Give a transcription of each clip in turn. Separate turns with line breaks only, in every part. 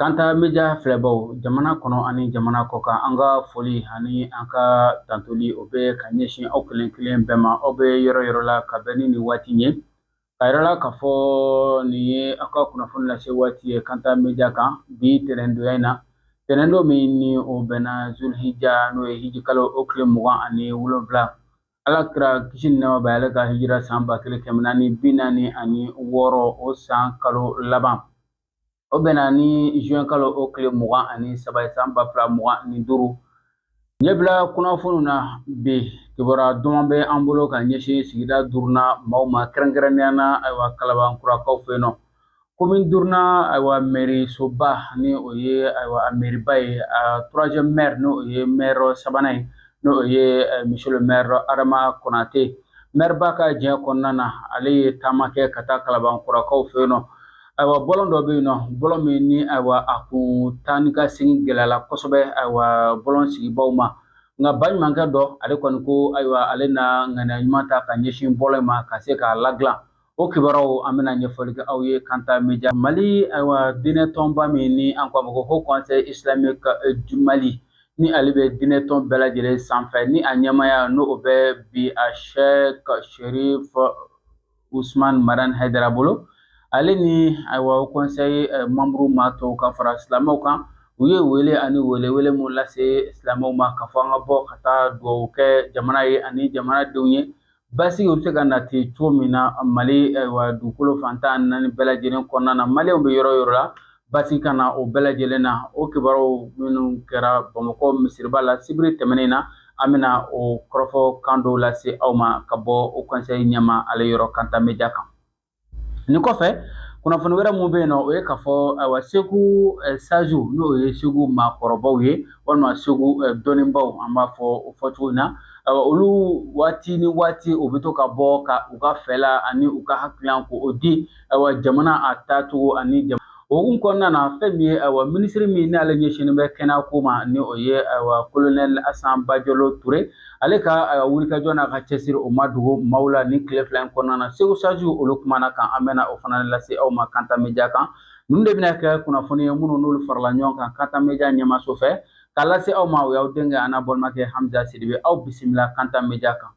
Kanta media filɛbaw jamana kɔnɔ ani jamana kɔkan an ka foli ani an ka tantoli o bɛ ka ɲɛsin aw kelen kelen bɛɛ ma aw bɛ yɔrɔ yɔrɔ la ka bɛn ni nin waati ye k'a yira aw la k'a fɔ nin ye aw ka kunnafoni lase waati ye kanta media kan bi tɛnɛndonya in na tɛnɛndo min ni o bɛnna zulhija n'o ye hijikalo o tile mugan ani wolonwula ala kira kisi ni nɛɛma b'a ye ale ka hijira san ba kelen kɛmɛ naani bi naani ani wɔɔrɔ o san kalo laban o bɛnna ni juin kalo o tile mugan ani saba ye san ba fila mugan ni duuru ɲɛbila kunnafoniw na bi kibaruya duman bɛ an bolo ka ɲɛsin sigida duurunan maaw ma kɛrɛnkɛrɛnnenya na ayiwa kalabankurakaw fɛ yen nɔ komini duurunan ayiwa mɛrisoba ni o ye ayiwa a mɛriba ye a troisième maire n'o ye maire sabanan ye n'o ye eh, monsieur le maire adama konate maireba ka diɲɛ kɔnɔna na ale ye taama kɛ ka taa kalabankurakaw fɛ yen nɔ ayiwa bɔlɔn dɔ bɛ yen nɔ bɔlɔn min ni ayiwa a kun taa ni ka segin gɛlɛyala kosɛbɛ ayiwa bɔlɔn sigibaaw ma nka baɲumankɛ dɔ ale kɔni ko ayiwa ale na ŋaniya ɲuman ta ka ɲɛsin bɔlɔn in ma ka se k'a ladilan O kibaruyaw an bɛna ɲɛfɔli kɛ aw ye kanta media mali ayiwa diinɛ tɔnba min ni an k'a ma ko haut conseil islamique euh, du mali ni ale bɛ diinɛ tɔn bɛɛ lajɛlen sanfɛ ni a ɲɛmaaya n'o o bɛ bi a sheikh sherif usman madani haidara bolo ale ni ayiwa haut conseil euh, membre maa tɔw ka fara silamɛw kan u ye wele ani welewele mun lase silamɛw ma k'a fɔ an ka bɔ ka taa dugawu kɛ jamana ye ani jamanadenw ye Basigi o bɛ se ka nati cogo min na Mali ayiwa dugukolo fan tan ni naani bɛɛ lajɛlen kɔnɔna na Maliyɛnw bɛ yɔrɔ yɔrɔ la basigi ka na o bɛɛ lajɛlen na o kibaruyaw minnu kɛra Bamakɔ misiriba la sibiri tɛmɛnen na an bɛna o kɔrɔfɔkan dɔw lase aw ma ka bɔ haut conseil ɲɛmaa ale yɔrɔ Kanta Media kan. nin kɔfɛ kunnafoni wɛrɛ mun bɛ yen nɔ o ye k'a fɔ ayiwa segu saziw n'o ye segu maakɔrɔbaw ye walima segu dɔnnibaaw an b'a fɔ o fɔcogo in na ayiwa olu waati ni waati u bɛ to ka bɔ ka u ka fɛla ani u ka hakilila ko o di ayiwa jamana a taacogo ani O hukumu kɔnɔna na fɛn min ye ayiwa minisiri min n'ale ɲɛsinnen bɛ kɛnɛyako ma ni o ye ayiwa kolonɛli asa bajalo ture ale ka ayiwa wulikajɔ n'a ka cɛsiri o ma dogo maaw la ni tile fila in kɔnɔna na segu sajiw olu kumana a kan an bɛna o fana lase aw ma kanta media kan ninnu de bɛna kɛ kunnafoni ye minnu n'olu farala ɲɔgɔn kan kanta media ɲɛmaaso fɛ k'a lase aw ma o y'aw denkɛ an'aw balimakɛ hamza sidibe aw bisimila kanta media kan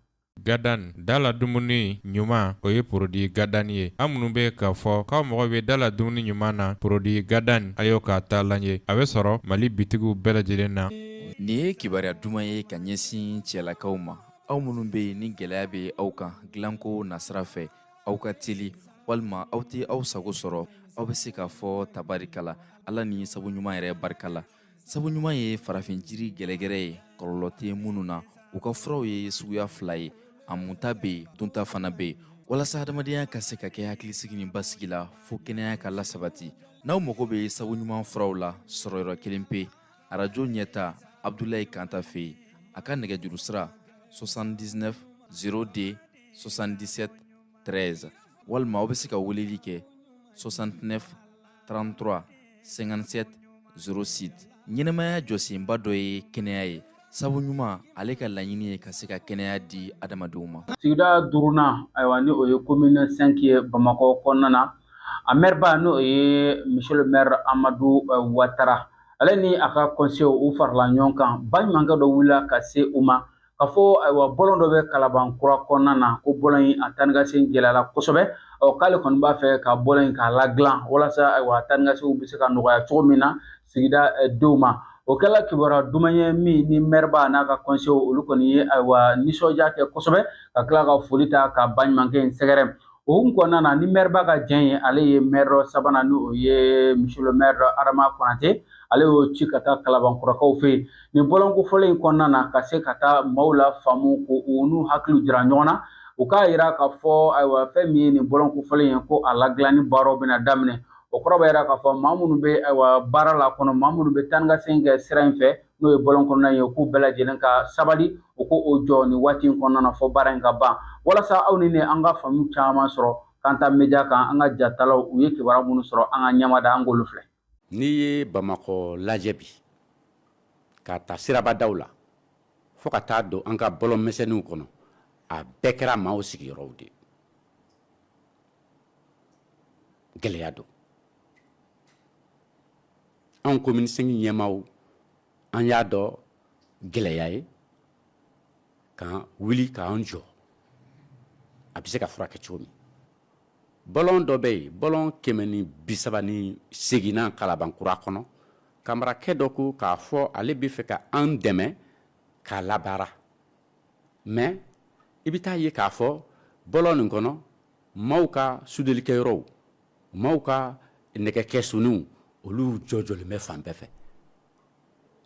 Gadan
da la dumuni ɲuman o ye porodi gadan ye an minnu bɛ k'a fɔ k'aw mago bɛ da la dumuni ɲuman na porodi gadan a y'o k'a taalan ye a bɛ sɔrɔ mali bitigiw bɛɛ lajɛlen na nin ye kibaruya
duman ye ka ɲɛsin cɛlakaw ma aw minnu bɛ yen ni gɛlɛya bɛ aw kan dilanko nasira fɛ aw ka teli walima aw tɛ aw sago sɔrɔ aw bɛ se k'a fɔ tabarikala ala ni sabu ɲuman yɛrɛ barika la sabu ɲuman ye farafin jiri gɛlɛgɛrɛ ye kɔlɔlɔ tɛ minnu na u ka furaw ye suguya fila ye a munta bɛ yen dunta fana bɛ yen walasa adamadenya ka se ka kɛ hakilisigi ni basigi la fo kɛnɛya ka lasabati n'aw mago bɛ sabu ɲuman furaw la sɔrɔyɔrɔ kelen pe arajo ɲɛta abdulayi kanta fɛ yen a ka nɛgɛjuru sira 79 02 77 13 walima aw bɛ se ka weleli kɛ 69 33 57 06 ɲɛnamaya jɔsenba dɔ ye kɛnɛya ye sabu ɲuman ale ka laɲini ye ka se ka kɛnɛya di adamadenw ma sigida
duurunan ayiwa ni o ye komini 5 ye bamakɔ kɔnɔna na a mɛriba n'o ye monsieur le maire amadu eh, watara ale ni a ka kɔnsew u farala ɲɔgɔn kan baɲumankɛ dɔ wulila ka se u ma k'a fɔ ayiwa bɔlɔn dɔ bɛ kalaban kura kɔnɔna na ko bɔlɔn in a taa ni ka segin gɛlɛyala kosɛbɛ ɔ k'ale kɔni b'a fɛ ka bɔlɔn in k'a ladilan walasa ayiwa a taa ni ka seginw bɛ se ka nɔgɔya cogo min na sigida eh, denw ma o kɛla kibaruya duman ye min ni mɛriba n'a ka kɔnsew olu kɔni ye ayiwa nisɔndiya kɛ kosɛbɛ ka tila ka foli ta ka baɲumankɛ in sɛgɛrɛ O hukumu kɔnɔna na ni mɛriba ka jɛn ye ale ye mɛri sabanan ni o ye monsieur le maire adama konate ale y'o ci ka taa kalabankurakaw fɛ yen nin bɔlɔn kofɔlen in kɔnɔna na ka se ka taa maaw lafaamu ko u n'u hakiliw jira ɲɔgɔn na u k'a yira k'a fɔ ayiwa fɛn min ye nin bɔlɔn kofɔlen in ye ko a ladilanni baaraw bɛna daminɛ o kɔrɔ b'a yira k'a fɔ maa minnu bɛ ayiwa baara la kɔnɔ maa minnu bɛ taa ni ka segin kɛ sira in fɛ n'o ye bɔlɔn kɔnɔna ye k'u bɛɛ lajɛlen ka sabali u k'o jɔ nin waati in kɔnɔna na fo baara in ka ban walasa aw ni ne an ka faamu caman sɔrɔ kanta media kan an ka jatalaw u ye kibaruya minnu sɔrɔ an ka ɲɛmada an k'olu filɛ n'i ye
bamakɔ lajɛ bi k'a ta sirabadaw la fo ka taa don an ka bɔlɔn misɛnninw kɔnɔ a bɛɛ kɛra maaw sigiyɔrɔw de gɛlɛya don anw komini sɛngi ɲɛmaaw an y'a dɔn gɛlɛya ye k'an wuli k'an jɔ a bɛ se ka furakɛ cogo min bɔlɔn dɔ bɛ yen bɔlɔn kɛmɛ ni bisaba ni seginnan kalabankura kɔnɔ kamarakɛ dɔ ko k'a fɔ ale b'a fɛ ka an dɛmɛ k'a labaara mɛ i bɛ taa ye k'a fɔ bɔlɔn nin kɔnɔ maaw ka sudelikɛyɔrɔw maaw ka nɛgɛkɛsuniw olu jɔjɔlen bɛ fan bɛɛ fɛ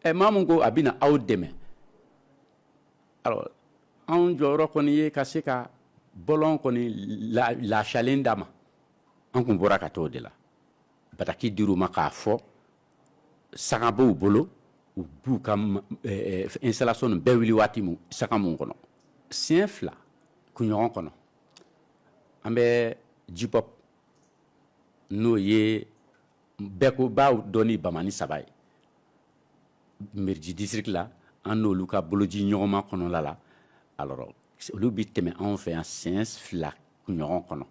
ɛ maa min ko a bɛna aw dɛmɛ alors anw jɔyɔrɔ kɔni ye ka se ka bɔlɔn kɔni lafiyalen d'a ma an kun bɔra ka t'o de la bataki dir'u ma k'a fɔ sanga b'u bolo u b'u ka installation nin bɛɛ wuli waati mun sanga mun kɔnɔ siɲɛ fila kunɲɔgɔn kɔnɔ an bɛ jipɔp n'o ye bɛɛ ko b'aw dɔn ni bamani saba ye mairie du district la an n'olu ka bolodiɲɔgɔnma kɔnɔla la alors olu bi tɛmɛ anw fɛ yan siɲɛ fila kunɲɔgɔn kɔnɔ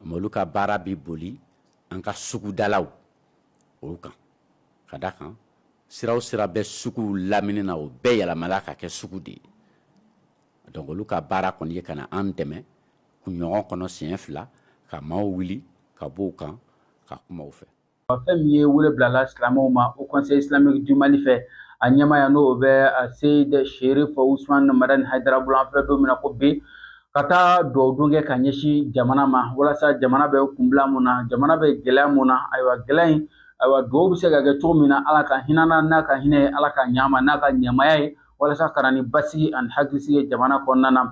mɛ olu ka baara bi boli an ka sugudalaw o kan ka d'a kan sira o sira bɛ suguw lamini na o bɛɛ yɛlɛmala ka kɛ sugu de ye donc olu ka baara kɔni ye ka na an dɛmɛ kunɲɔgɔn kɔnɔ siɲɛ fila ka maaw wuli ka b'o kan ka kuma u fɛ fɛn min ye wele
bilala silamɛw ma haut conseil islamique du mali fɛ a ɲɛmaaya n'o bɛ a seyid sherif usman madani hayidara bolo an filɛ don min na ko bi ka taa dugawudon kɛ ka ɲɛsin jamana ma walasa jamana bɛ kunbila mun na jamana bɛ gɛlɛya mun na ayiwa gɛlɛya in ayiwa dugawu bɛ se ka kɛ cogo min na ala ka hinɛ an na n'a ka hinɛ ye ala ka ɲa ma n'a ka ɲamaya ye walasa ka na ni basigi ani hakilisigi ye jamana kɔnɔna na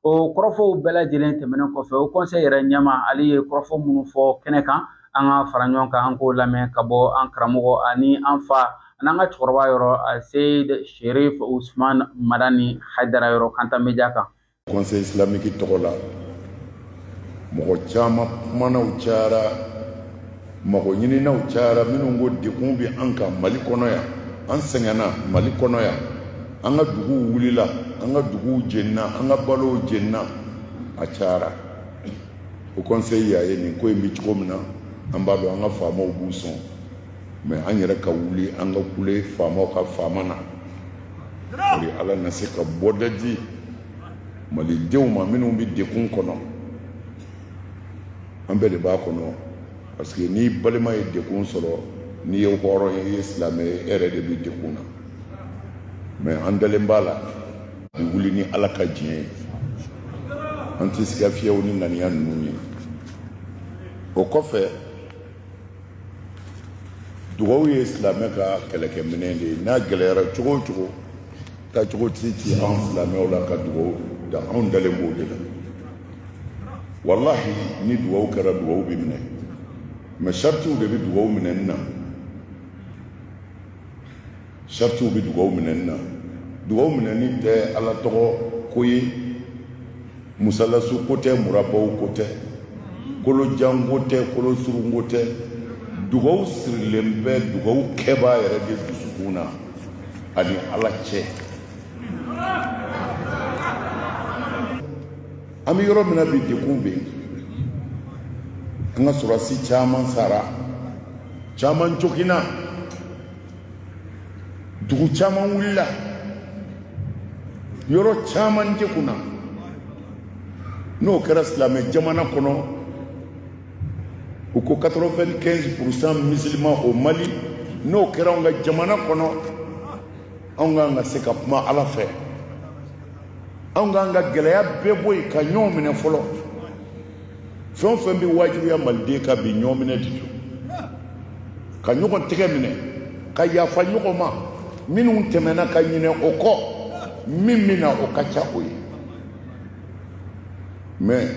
o kɔrɔfɔw bɛɛ lajɛlen tɛmɛnen kɔfɛ haut conseil yɛrɛ ɲɛmaa ale ye kɔrɔfɔ minnu fɔ kɛnɛ kan an ka fara ɲɔgɔn kan an k'o lamɛn ka bɔ an karamɔgɔ ani an fa an'an ka cɛkɔrɔba yɔrɔ seyid sherif usman madani hayidara yɔrɔ kanta media kan Conseil
islamique tɔgɔ la mɔgɔ caman kumanaw cayara mago ɲininaw cayara minnu ko dekun bɛ an kan mali kɔnɔ yan an sɛgɛnna mali kɔnɔ yan an ka duguw wulila an ka duguw jenina an ka balow jenina a cayara haut conseil y'a ye nin ko in bɛ cogo min na an b'a dɔn an ka faamaw b'u sɔn mɛ an yɛrɛ ka wuli an ka kule faamaw ka faama na o ye ala na se ka bɔda di malidenw ma minnu bɛ dekun kɔnɔ an bɛɛ de b'a kɔnɔ parce que n'i balima ye dekun sɔrɔ n'i ye hɔrɔn ye i ye silamɛ ye e yɛrɛ de bɛ dekun na mɛ an dalen b'a la bi wuli ni ala ka diɲɛ ye an tɛ siga fiyew ni ŋaniya ninnu ye o kɔfɛ dugawu ye silamɛ ka kɛlɛkɛminɛn de ye n'a gɛlɛyara cogo o cogo taacogo ti ci anw silamɛw la ka dugawu dan anw dalen b'o de la walahi ni dugawu kɛra dugawu bɛ minɛ mɛ saritiw de bɛ dugawu minɛni na Saratiw bɛ dugaw minɛni na dugaw minɛni tɛ ala tɔgɔ ko ye musalasu ko tɛ murabaw ko tɛ kolojan ko tɛ kolosurun ko tɛ dugaw sirilen bɛ dugaw kɛbaa yɛrɛ de dusukun na ani ala cɛ an bɛ yɔrɔ min na bi degun bɛ yen an ka sɔrɔdasi caman sara caman jogina dugu caman wulila yɔrɔ caman degunna n'o kɛra silamɛ jamana kɔnɔ u ko 95 pourcent musulman o mali n'o kɛra anw ka jamana kɔnɔ anw kan ka se ka kuma ala fɛ anw k'an ka gɛlɛya bɛɛ bɔ yen ka ɲɔgɔn minɛ fɔlɔ fɛn o fɛn bɛ wajibiya maliden kan bi ɲɔgɔn minɛ de don ka ɲɔgɔn tɛgɛ minɛ ka yafa ɲɔgɔn ma minnu tɛmɛna ka ɲinɛ o kɔ min bɛ na o ka ca o ye mais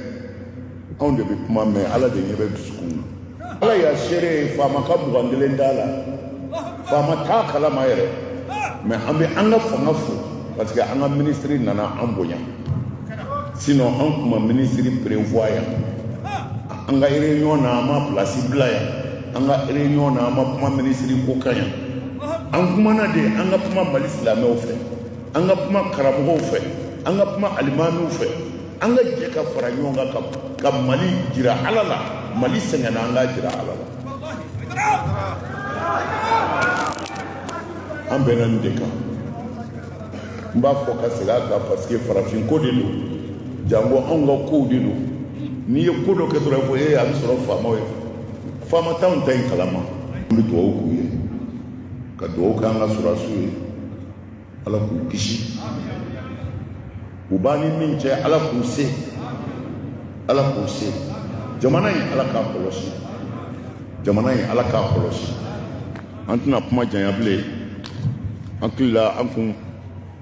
anw de bɛ kuma mɛn ala de ɲɛ bɛ dusukun na ala y'a seere ye faama ka mugan kelen t'a la faama t'a kalama yɛrɛ mais an bɛ an ka fanga fo parce que an ka minisiri nana an bonya sinon an tun ma minisiri prévoir yan an ka réunion na an ma place bila yan an ka réunion na an ma kuma minisiri ko kan yan an kumana de an ka kuma mali silamɛw fɛ an ka kuma karamɔgɔw fɛ an ka kuma alimamiw fɛ an ka jɛ ka fara ɲɔgɔn kan ka mali jira ala la mali sɛgɛnna an ka jira ala la an bɛnna nin de kan n b'a fɔ ka segin a kan parce que farafin ko de don janko anw ka kow de don n'i ye ko dɔ kɛ dɔrɔn fɔ ee a bɛ sɔrɔ faamaw ye faama t'anw ta in kalama an bɛ dugawu k'u ye ka dugawu kɛ an ka sɔrɔdasiw ye ala k'u kisi u b'a ni min cɛ ala k'u se ala k'u se jamana in ala k'a kɔlɔsi jamana in ala k'a kɔlɔsi an tɛna kuma janya bilen an tilala an kun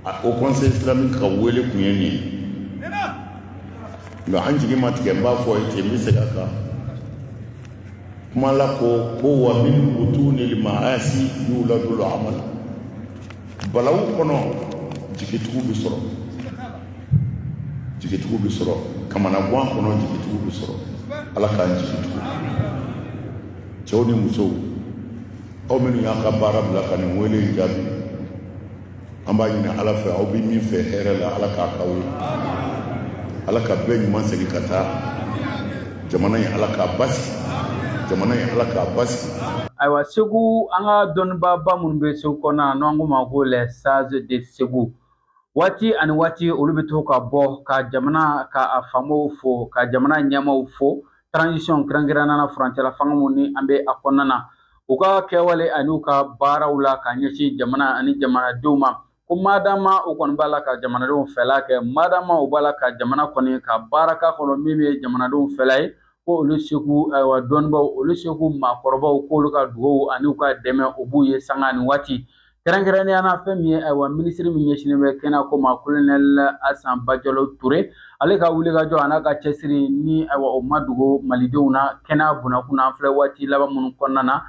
haut conseil islamique ka wele kun ye nin ye nka an jigi ma tigɛ n b'a fɔ ye ten n bɛ segin a kan kuma la ko ko wa min butuni lmaasi yuladu lamal balawu kɔnɔ jigitugu bɛ sɔrɔ jigitugu bɛ sɔrɔ kamanagan kɔnɔ jigitugu bɛ sɔrɔ ala k'an jigi tugu cɛw ni musow aw minnu y'aw ka baara bila ka nin wele in jaabi an b'a ɲini ala fɛ aw bɛ min fɛ hɛrɛ la ala k'a k'aw ye ala ka bɛɛ ɲuman segin ka taa jamana in ala k'a basigi jamana in ala k'a basigi
ayiwa segu an ka dɔnnibaaba minnu bɛ segu kɔnɔna na n'an k'u ma ko les sages de segu waati ani waati olu bɛ to ka bɔ ka jamana ka a faamaw fo ka jamana ɲɛmaaw fo transition kɛrɛnkɛrɛnnana furancɛla fanga min ni an bɛ a kɔnɔna na u ka kɛwale ani u ka baaraw la ka ɲɛsin jamana ani jamanadenw ma ko madama u kɔni b'a la ka jamanadenw fɛla kɛ madama u b'a la ka jamana kɔni ka baara k'a kɔnɔ min bɛ jamanadenw fɛla ye ko olu segu ayiwa dɔnnibaw olu segu maakɔrɔbaw k'olu ka dugawu ani u ka dɛmɛ o b'u ye sanga ni waati kɛrɛnkɛrɛnnenya na fɛn min ye ayiwa minisiri min ɲɛsinnen bɛ kɛnɛya ko ma kolonɛli asan bajalo ture ale ka wulikajɔ an'a ka cɛsiri nin ayiwa o ma dogo malidenw na kɛnɛya bunda kunna an filɛ waati laban minnu kɔnɔna na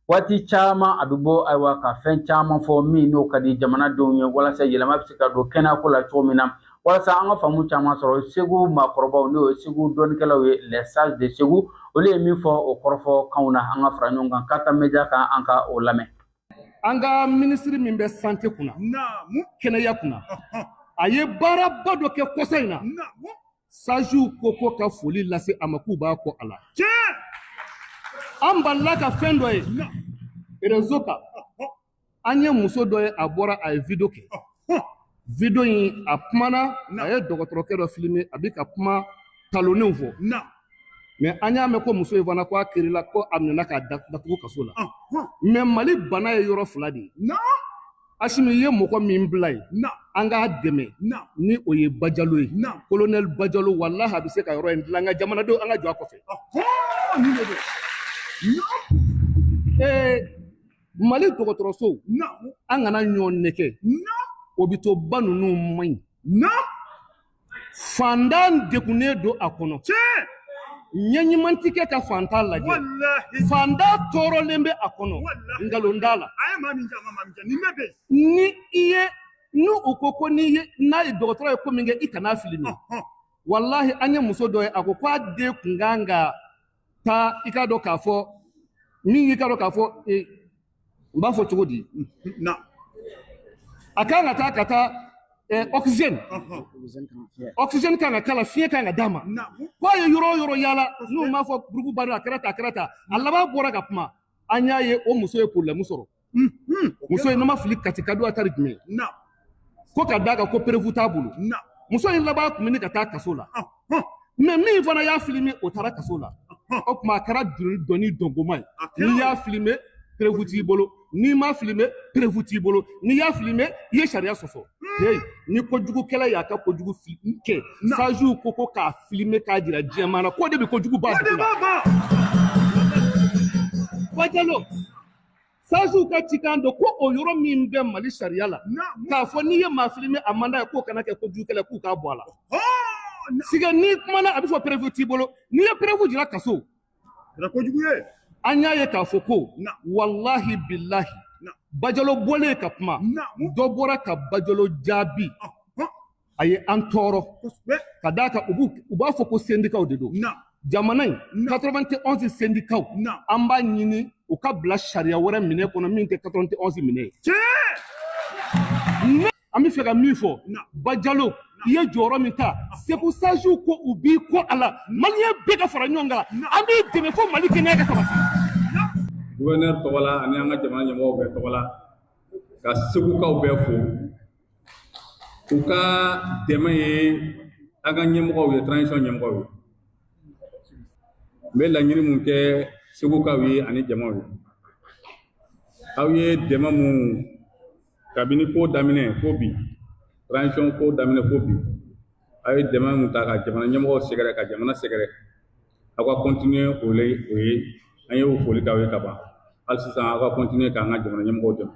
waati caman a bɛ bɔ ayiwa ka fɛn caman fɔ min n'o ka di jamanadenw ye walasa yɛlɛma bɛ se ka don kɛnɛya ko la cogo min na walasa an ka faamu caman sɔrɔ segu maakɔrɔbaw n'o ye segu dɔnnikɛlaw ye les sages de segu olu ye min fɔ o kɔrɔfɔ kanw na an ka fara ɲɔgɔn kan kata media kan an ka o lamɛn an
ka minisiri min bɛ santé kunna kɛnɛya kunna a ye baaraba dɔ kɛ kɔsa in na sajiw ko k'u ka foli lase a ma k'u b'a kɔ a la an balila ka fɛn dɔ ye rezo kan an ye muso dɔ ye a bɔra a ye video kɛ video in a kumana a ye dɔgɔtɔrɔkɛ dɔ filime a bɛ ka kuma talonnenw fɔ mɛ an y'a mɛn ko muso in fana ko a kiirila ko a minɛna k'a datugu kaso la mɛ mali bana ye yɔrɔ fila de ye asimi ye mɔgɔ min bila yen an k'a dɛmɛ ni o ye bajalo ye kolonɛli bajalo walahi a bɛ se ka yɔrɔ in dilan nka jamanadenw an ka jɔ a kɔfɛ ee mali dɔgɔtɔrɔso an kana ɲɔgɔn nɛgɛn hôpitaux ba ninnu man ɲi fantan degunnen don a kɔnɔ ɲɛ ɲuman tɛ kɛ ka fantan lajɛ fantan tɔɔrɔlen bɛ a kɔnɔ nkalon t'a la ni i ye n'u ko ko n'i ye n'a ye dɔgɔtɔrɔ ye ko min kɛ i kana filime walahi an ye muso dɔ ye a ko k'a den kun kan ka taa i k'a dɔn k'a fɔ min i k'a dɔn k'a fɔ e n b'a fɔ cogo di na a kan ka taa ka taa eh, oxygène oxygène kan ka k'a la fiɲɛ kan ka d'a ma ko a ye yɔrɔ o yɔrɔ yaala n'u m'a fɔ buruku banna a kɛra tan a kɛra tan a laban bɔra ka kuma an y'a ye o muso ye problème sɔrɔ muso in n'a ma fili kati ka duwa tari jumɛn na ko ka d'a kan ko perefu t'a bolo na muso in laban tun bɛ ɲini ka taa kaso la mɛ min fana y'a filime o taara kaso la o tuma a kɛra dɔnni dɔngoma ye n'i y'a filime perefu t'i bolo n'i m'a filime perefu t'i bolo n'i y'a filime i ye sariya sɔsɔ hey ni kojugukɛla y'a ka kojugu kɛ sajuw ko ko k'a filime k'a jira diɲɛ maa na k'o de bɛ kojugu ban dugu la bajalo sajuw ka cikan don ko o yɔrɔ min bɛ mali sariya la k'a fɔ n'i ye maa filime a man d'a ye k'o kana kɛ kojugu kɛlɛ k'u k'a bɔ a la sɛkɛ n'i kumana a bɛ fɔ perewu t'i bolo n'i ye perewu jira kaso kojugu ye an y'a ye k'a fɔ ko walahi bilahi bajalo bɔlen ka kuma dɔ bɔra ka bajalo jaabi a ye an tɔɔrɔ ka d'a kan u b'a fɔ ko sendikaw de don jamana in 91 sendikaw an b'a ɲini u ka bila sariya wɛrɛ minɛ kɔnɔ min tɛ 91 minɛ ye an bɛ fɛ ka min fɔ bajalo i ye jɔyɔrɔ min ta segu sajuw ko u b'i kɔ a la maliyɛn bɛɛ ka fara ɲɔgɔn kan an b'i dɛmɛ fo mali kɛnɛya ka sabati
guvɛnɛri
tɔgɔ
la ani an ka jamana
ɲɛmɔgɔw
bɛɛ tɔgɔ la ka segukaw bɛɛ fo u ka dɛmɛ ye an ka ɲɛmɔgɔw ye transition ɲɛmɔgɔw ye n bɛ laɲini mun kɛ segukaw ye ani jamaw ye aw ye dɛmɛ mun kabini ko daminɛ fo bi transition ko daminɛ fo bi aw ye dɛmɛ mun ta ka jamana ɲɛmɔgɔw sɛgɛrɛ ka jamana sɛgɛrɛ aw ka kɔntiniye o la o ye an ye o foli k'aw ye ka ban hali sisan aw ka kɔntiniye k'an ka jamana ɲɛmɔgɔw dɛmɛ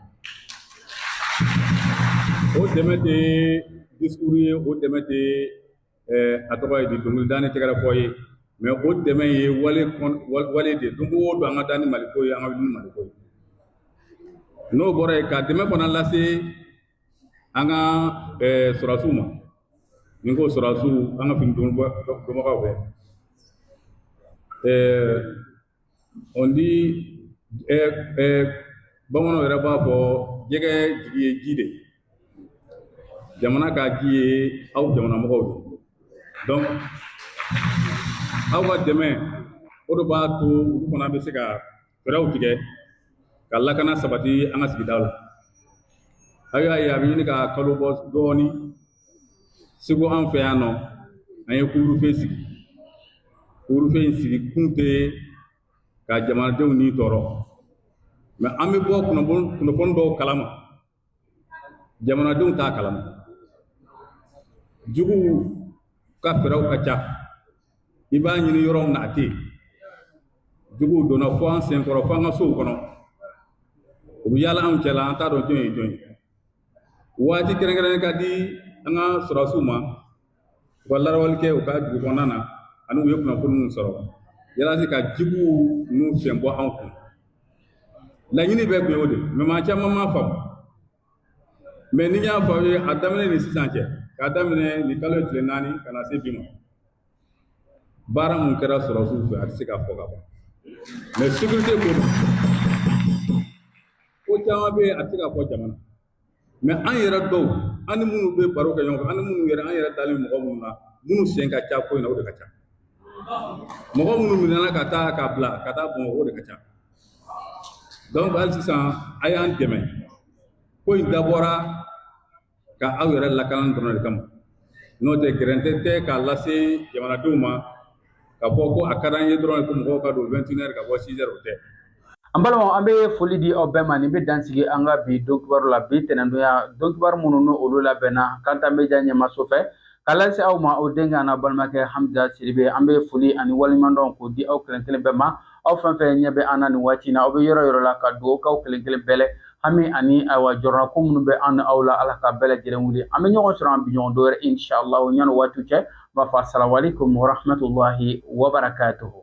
o dɛmɛ tɛ disikuru ye o dɛmɛ tɛ a tɔgɔ ye di dɔnkili da ni tɛgɛrɛ fɔ ye mɛ o dɛmɛ ye wale wale de don o don an ka taa ni maliko ye an ka wuli ni maliko ye n'o bɔra yen ka dɛmɛ fana lase an ka sɔrɔdasiw ma ni n ko sɔrɔdasiw an ka fini donbagaw bɛɛ on dit bamananw yɛrɛ b'a fɔ jɛgɛ jigi ye ji de jamana ka ji ye aw jamana mɔgɔw de donc aw ka dɛmɛ o de b'a to olu fana bɛ se ka fɛɛrɛw tigɛ ka lakana sabati an ka sigidaw la aw y'a ye a bɛ ɲini ka kalo bɔ dɔɔnin segu an fɛ yan nɔ an ye couvre-feu sigi couvre-feu in sigi kun tɛ ka jamanadenw ni tɔɔrɔ mɛ an bɛ bɔ kunnafoni dɔw kalama jamanadenw t'a kalama juguw ka fɛɛrɛw ka ca i b'a ɲini yɔrɔ min na a tɛ yen juguw donna fo an sen kɔrɔ fo an ka sow kɔnɔ u bɛ yaala anw cɛla an t'a dɔn jɔn ye jɔn ye waati kɛrɛnkɛrɛnnen ka di an ka sɔrɔdasiw ma u ka larawali kɛ u ka dugu kɔnɔna na ani u ye kunnafoni minnu sɔrɔ yalasa ka juguw n'u fiɲɛ bɔ anw kun laɲini bɛɛ tun y'o de mɛ maa caman m'a faamu mɛ ni y'a fɔ aw ye a daminɛ ni sisan cɛ k'a daminɛ nin kalo tile naani ka na se bi ma baara min kɛra sɔrɔdasiw fɛ a tɛ se ka fɔ ka ban mɛ sekirite ko ko caman bɛ yen a tɛ se ka fɔ jamana mɛ an yɛrɛ dɔw an ni minnu bɛ baro kɛ ɲɔgɔn fɛ an ni minnu yɛrɛ an yɛrɛ dalen mɔgɔ minnu na minnu sen ka ca ko in na o de ka ca mɔgɔ minnu minɛna ka taa ka bila ka taa bamakɔ o de ka ca donc hali sisan a y'an dɛmɛ ko in dabɔra ka aw yɛrɛ lakana dɔrɔn de kama n'o tɛ gɛrɛntɛ tɛ k'a lase jamanadenw ma k'a fɔ ko a ka d'an ye dɔrɔn ko mɔgɔw ka don wɛntinɛri ka bɔ sizɛri o tɛ an balimaw an
bɛ foli di aw bɛɛ ma nin bɛ dansigi an ka bi don kibaru la bi tɛnɛndonya don kibaru minnu ni olu labɛnna kanta media ɲɛmaso fɛ ka lase aw ma aw denkɛ an'a balimakɛ hamza sidibe an bɛ foli ani waleɲumandɔn k'o di aw kelen kelen bɛɛ ma aw fɛn fɛn ɲɛ bɛ an na nin waati in na aw bɛ yɔrɔ yɔrɔ la ka dugawu k'aw kelen kelen bɛɛ ye hami ani ayiwa jɔrɔna ko minnu bɛ an ni aw la ala ka bɛɛ lajɛlen wuli an bɛ ɲɔgɔn sɔrɔ an bi ɲɔgɔn dɔwɛrɛ inshallah o yan n'o waati cɛ n b'a fɔ asalamalekum warahmatulahi wabarakatuhu